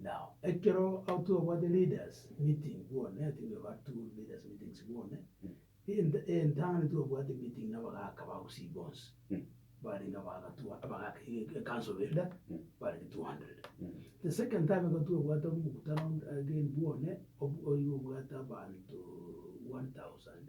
Now ekero au twabwate leaders meeting bono ne tiga ba two leaders meetings bono ent entano twabwate meeting na abagaka ba Gusii bonsi barenge abagaka two abagaka e e council elder barenge 200. The second time ekero twabwate omokutano again bono obu oigo obwate abanto 1000.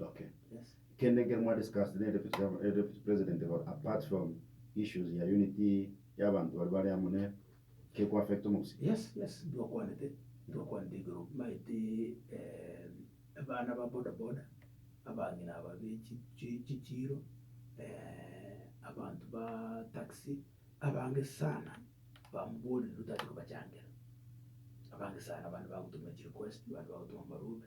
Okay yes kende ekero mwa discuss ne deputy governor eh deputy president igoro apart from issues ya unity ya abanto baria bare amo ne ke ko affect omogusii. Yes yes intwe okwanete intwe okwanete igoro maete eh abana ba boda boda abang'ina aba be chi chi chichiiro abanto ba taxi abange sana bamborire otari kobachangera abange sana abande bagotoma chi request abande bagotoma amaruga.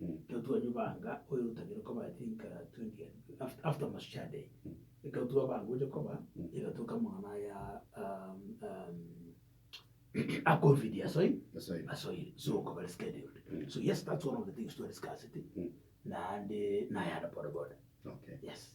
Ekero twanyubanga oyo otagire koba I think uh, 20 and after, after Mashujaa Day ekero twabanga gocha koba egatuka amang'ana aya um, um, a covid asoire Asoire. asoire so okaba rescheduled so yes that's one of the things to discuss it naende nayande bodaboda Okay. yes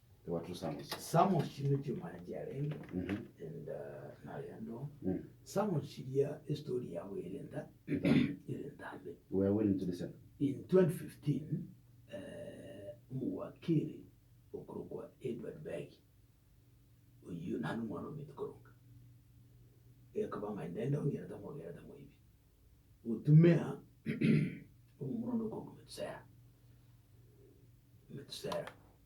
Ewatu Samusi. Samusi nigo chimwana chiarenge Mhm. enda narendo Mm. Samusi ria estory yabo ere enda ere entambe We are willing to listen. in 2015 eh, omowakiri okorokwa Edward Begi oyio nani omwana omete koronga ekaba ng'a enda enda ongera tamogera tamoibi gotumea omomura onde okorokwa Metusela Metusela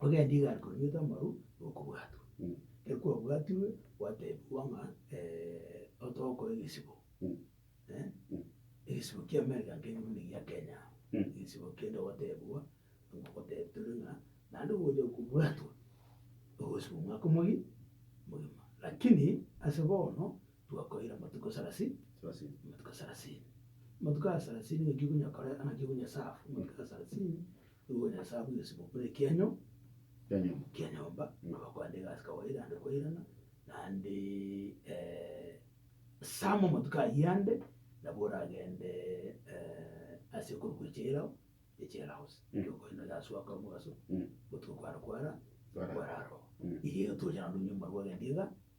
Ogende iga akonywete amaru nokobwatwa. Ekero kwabwatirwe gwatebiwa ng'a otogokora egesibo egesibo kia America nkeire buna egia Kenya aa. Egesibo kende ogotebigwa tore ng'a naende ogocha kobwatwa ogosiba omwaka omoge omogima. Lakini ase bono twakoire amatuko sarasini amatuko sarasini. Amatuko aya sarasini ng'aki okonya kore ng'aki okonya serve amatuko aya sarasini Nigo Nyasae akonya esiboko buna ekianyo kia nyomba, abakoenda egasi kawaida ande koirana, naende Sam amatuko ayio ande nabo oragende ase ekorokwa echairao, echair house, ekero okoenda egasi goaka omogaso, botuko kware kwara, kwarara oo. Iga iga togocha naende onye omobaregoagende iga,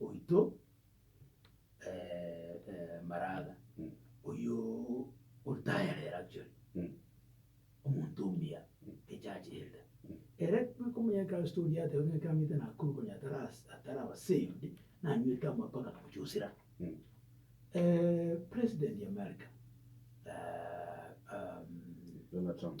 oito Maraga, oyio otayarera actually, omonto omuya echache enda. Ere bweka omonyankristo oria ateba ng'a ekero ang'ete Nakuru konya ataraba saved, nanywete amato na komochusera. President ya America, Donald Trump.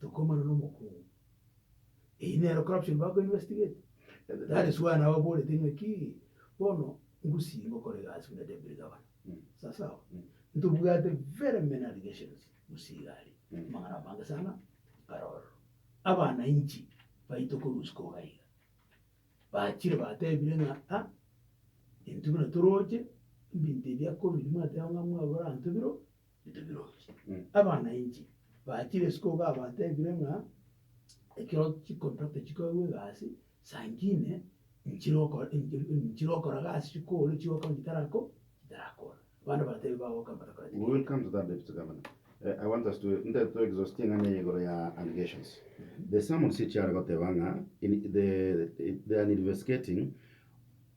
Tokomana nomokungu. Eyio nero corruption bago investigate. That is why nababorete ng'a ki, bono ngusii ngokora egasi buna deputy governor. Sawa sawa. Ntobwate very many allegations gusii iga aria. Amang'ana amange sana kare ororo. Abanainchi baito korwa isiko iga iga, bachire batebire ng'a ah, intwe buna toroche, ebinto ebi akobiria mwateba ng'a mwagora ntwe biro. Abana inche bachire isiko iga abatebire ng'a ekero chikoto tichikogwa egasi sangine nchire okora nchire okora gasi chikore chigokora chitarakora chitarakora. Abana batebire bagoka mbare kore We will come to that Deputy Governor. Eh, I want us to intare to exhaust eng'ana eye igoro ya allegations. The summons echiare goteba ng'a in the they are investigating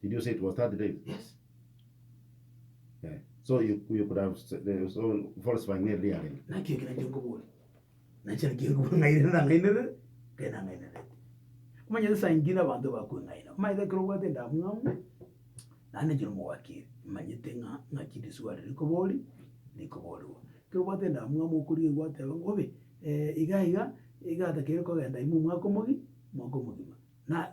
Did you say it was 30 days? Yes. Eh, so you, you could have s- eh, so falsifying near reality. nakio ekero nche nkobore nache nakio nkobore ng'aire ndang'ainere nkae nang'ainerete omanyete saa ingine abanto bakweng'aina omanyete ekero obwate endamwamu naende nche nomogwakiri manyete ng'a ng'aki riswali rikobori rikoborwa ekero obwate endamwamu okorigia gwateba bobe eh, iga iga iga atakeri kogenda ime omwaka omogi omwaka omogima na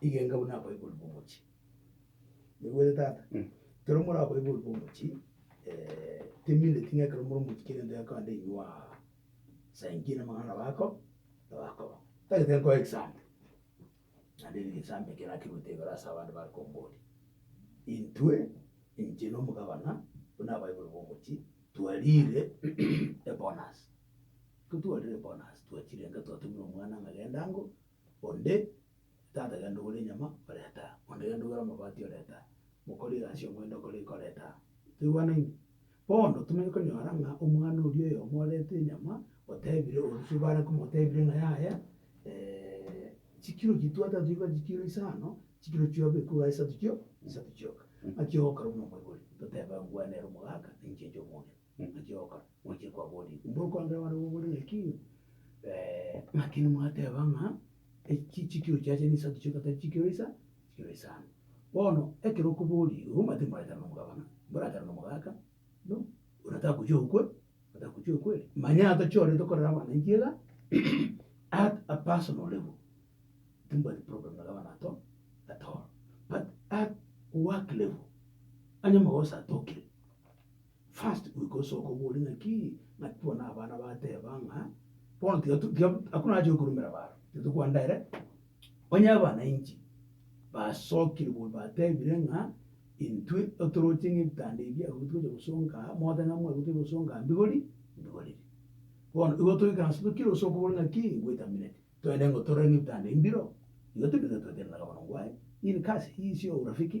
igenga buna abaibori b'omochie. Naigwete tata? Ekero more abaibori b'omochie, eh, timineti ng'a ekero more omochie kera egento gekogenda inwe aa, saa inki na amang'ana nabo ako, nabo akoba. Tagete nkoe example, naende ere egesambe ekio nakerwete igoro ase abande bare komboria. Intwe, inche na omogabana, buna abaibori b'omochie, twariire ebonus. Ekero twarire ebonus, twachire enga twatumera omwana ng'a genda ango, Onde tata genda ogore enyama, orete aa. Onde genda ogore amabati, orete aa. Mokori egasi y'omwendo okore eke, orete aa. Toigwanaine? Bono tomanye konyora ng'a omwana oria oyomo orete enyama, otebire orosio bare komotebire ng'a yaya, chikiro chiaito tata toigwete chikiro isano, chikiro chiobe ekwo iga isato chio, isato chioka. Naki ogokora buna omoibori, totebe ng'a ngwanere omogaka, ninche inche omong'ina. Mogochioka mochie kwaboria, Inwe okwambera abana b'oborimo eki? Naki nimwateba ng'a eki chikiro chiacha ninsato chionsi tari chikiro isa, chikiro isano. Bono ekero okoboria obo, mbaete moraikare nomogabana, moraikare nomogaka, no, ona tagochia okwe, ona tagochia okwe ere. Manya tochiorete okorera abana intwe iga at a personal level, timbwati problem na gabana at all, at all, but at work level, onye omogoso atokire. First goika osoke obore naki naki bono abana bateba ng'a bono tiga tiga hakuna haja yokorumera baro titokwanda ere onye abanainchi basokire bono batebire ng'a intwe otoroche ng'a ebitanda ebi abwo togocha gosonga aa mogote ng'a mwarwe togocha gosonga aa mbigori mbigorire bono igo toikaranse tokire osoke obore ng'aki ngwetamineti toende ng'otorore ng'a ebitanda ebi mbiro igo tibiro iga twatebana gabana ngwaye in kasi hii sio urafiki.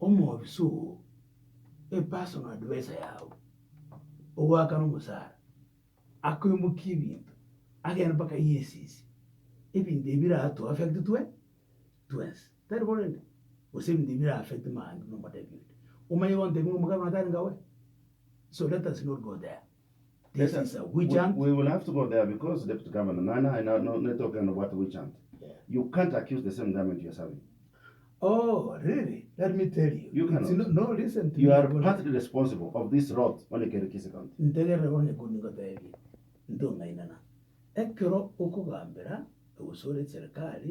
omobisa oo epersonal adviser yao ogoakana omosara akoimokia ebinto agende mpaka EACC ebinto ebi bira to affect twe twensi tari bo rende? Gose ebinto ebi bira affect mambia na omotebi onde omanye gontebia ng'a omokano oyo tarenge awe so let us not go there. Ntegerera bono ekio ningoteebie, ntong'ainana. Ekero okogambera egosore Serikali,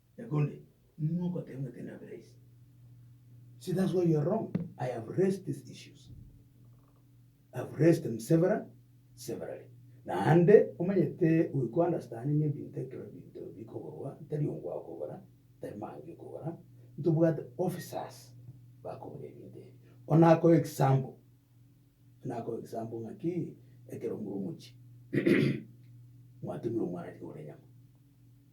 Egonde nigo ogoteba ng'a tari nabe rahisi. So that's why you are wrong. I have raised these issues. I have raised them several, severally. Naende omanyete goika ounderstandinge ebinto ekero ebinto bikogorwa, tari ongwa okogora, tari mange okogora, ntobwate officers bakogora ebinto ebi. Bono nakoe example, nakoe example ng'aki ekero more omochie mwatumire omwana aria kogora enyama.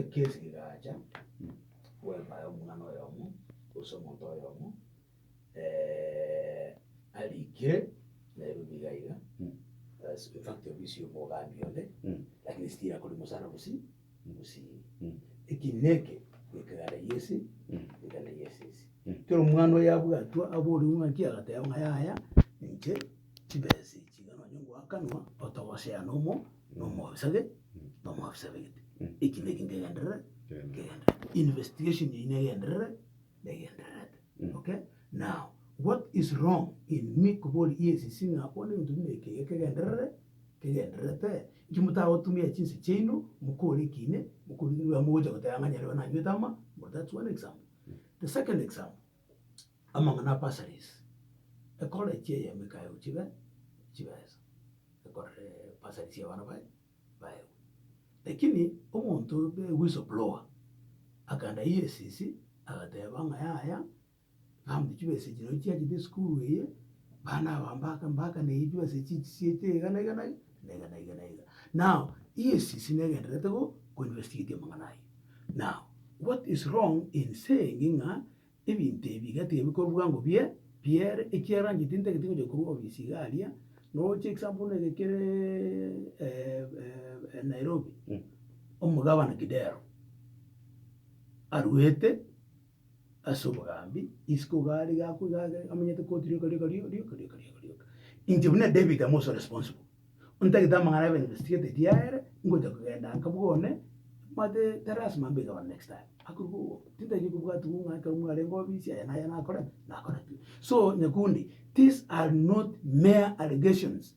Ekesi egaacha, bweka aye omwana oyomo, gose omonto oyomo arikire, naye rori iga iga, as in fact ofisi ya omogambi one, lakini still akore omosara bosio bosio. Eki neke ekegare gi'ense, ekegare gi'ense ase. Kera omwana oyabwatwa aborigwe ng'a ki, agateba ng'a yaya, ninche. Chibesi chiga nonye ngoakanwa otogosea nomo nomobisage nomobisa begete eki neki ndegenderere nkegenderere investigation eye negenderere negendererete okay now what is wrong in me kobori yes sing'a bono egento buna eke iga kegenderere kegendererete inki motagotumia chinse chiaino mokore eki ime mokore eki ime iga mogocha goteba ng'a nyarebe nanywete ama that's one example the second example. amang'ana a bursaries, ekore chie eyemo ikaegwe chibe chibesa, ekorere bursaries ya abana baye baegwe. Lakini omonto obe whistle blower, akaenda EACC agateba ng'a yaya, family chibesa echi nachi chiachete esukuru eye, bana aba mbaka mbaka na eyi chibesa echi echi chiaite iga na iga na iga. Na iga, na iga, na iga. Now, EACC negendererete go investigate amang'ana ayio. Now, what is wrong in saying ng'a ebinto ebi iga tiga bikorwa bwango bie biere ekiagera onye tintagete gocha korwa ofisi iga aria noche example buna eke kere Nairobi, omogabana Kidero aruete. ase obogambi, isiko iga are iga akwo iga agere amenyete koti rioka rioka rio rioka rioka rioka rioka. Inche buna David am also responsible, ontagete amang'ana abe investigated yaere, ngocha kogenda nka bwo one, omanyete tarasima mbe gavana next time, akorwa bwogo, tintaiyo kobwati buna ekero mwarenge obisi aya na aya nakorete, nakoretwe. So nyakundi, these are not mere allegations.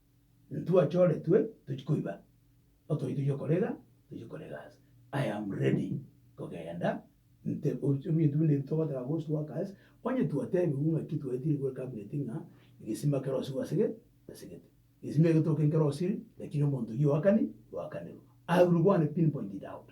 Ntwachoretwe tochie koiba, otoiyo tochie korega, tochie korega ase. I am ready kogenda nte ebinto binde ebi togotaka ghost workers, onye twatebigwe ng'aki twaetire gwe cabinet ng'a egesima kerosiwe asege asegete. Egesima egetoke nkerosiri lakini omonto oyio oakani oakanirwe. I will go and pin point it out.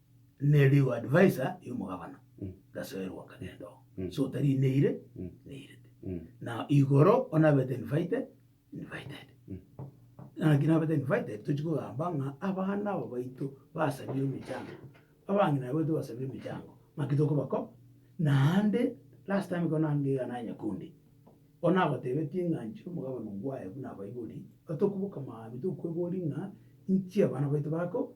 ne legal adviser y'omogabana gasoerwa nkagenda oo. Mm. So tari neire, Mm. neirete. Mm. Na igoro onabete invited, invited. Mm. Naki nabete invited tochi kogamba ng'a abana aba baito basabie emechango, abang'ina baito basabie emechango naki tokobako naende last time ekero naye ngaiga naye Nyakundi, bono nagotebetie ng'a nchire omogabane oyo buna abaibori, atokoboka maambia tokwebori ng'a nchi abana baito bako.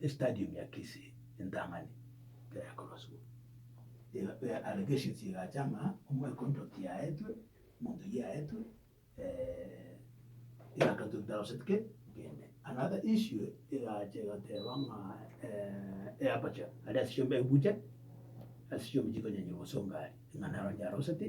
estadium ya Kisii entang'ani ekero yakorosiwa, iga allegations egacha ng'a omwekontrakt yaetwe, omonto oyio yaetwe, egaketwa ebitaroseti kei kende. Another issue egacha egateba ng'a eaperture aria ase chiombe ebucha, ase chiombe chikonyanya obosongo aria, ng'a naro yaroseti,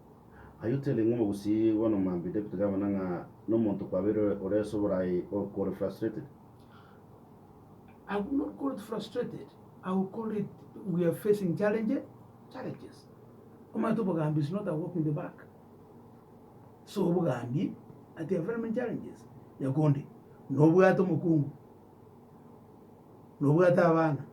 Ayio tende ng'uma gose bono mambia David gabana ng'a nomonto kwabeire ore ase oboraai okore frustrated. I would not call it frustrated, I would call it we are facing challenge, challenges. Omanyete obogambi is not a walk in the park. So obogambi at a very many challenges. Yakundi, nobwate omokungu. nobwate abana,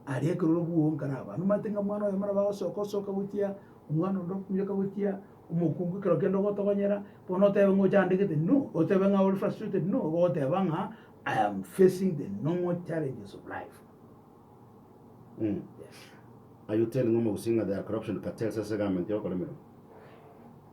aria ekero ore bwonka na abana, omanyete ng'a omwana oyo ekero bagosoka osoka gochia, omwana onde okominyoka gochia, omokungu ekero kende ogotogonyera, bono otebe ng'a ochandegete, no, otebe ng'a ore frustrated, no, igo ogoteba ng'a I am facing the normal challenges of life. Are you telling Omogusii ng'a there are corruption cartels ase government y'okoremerwa?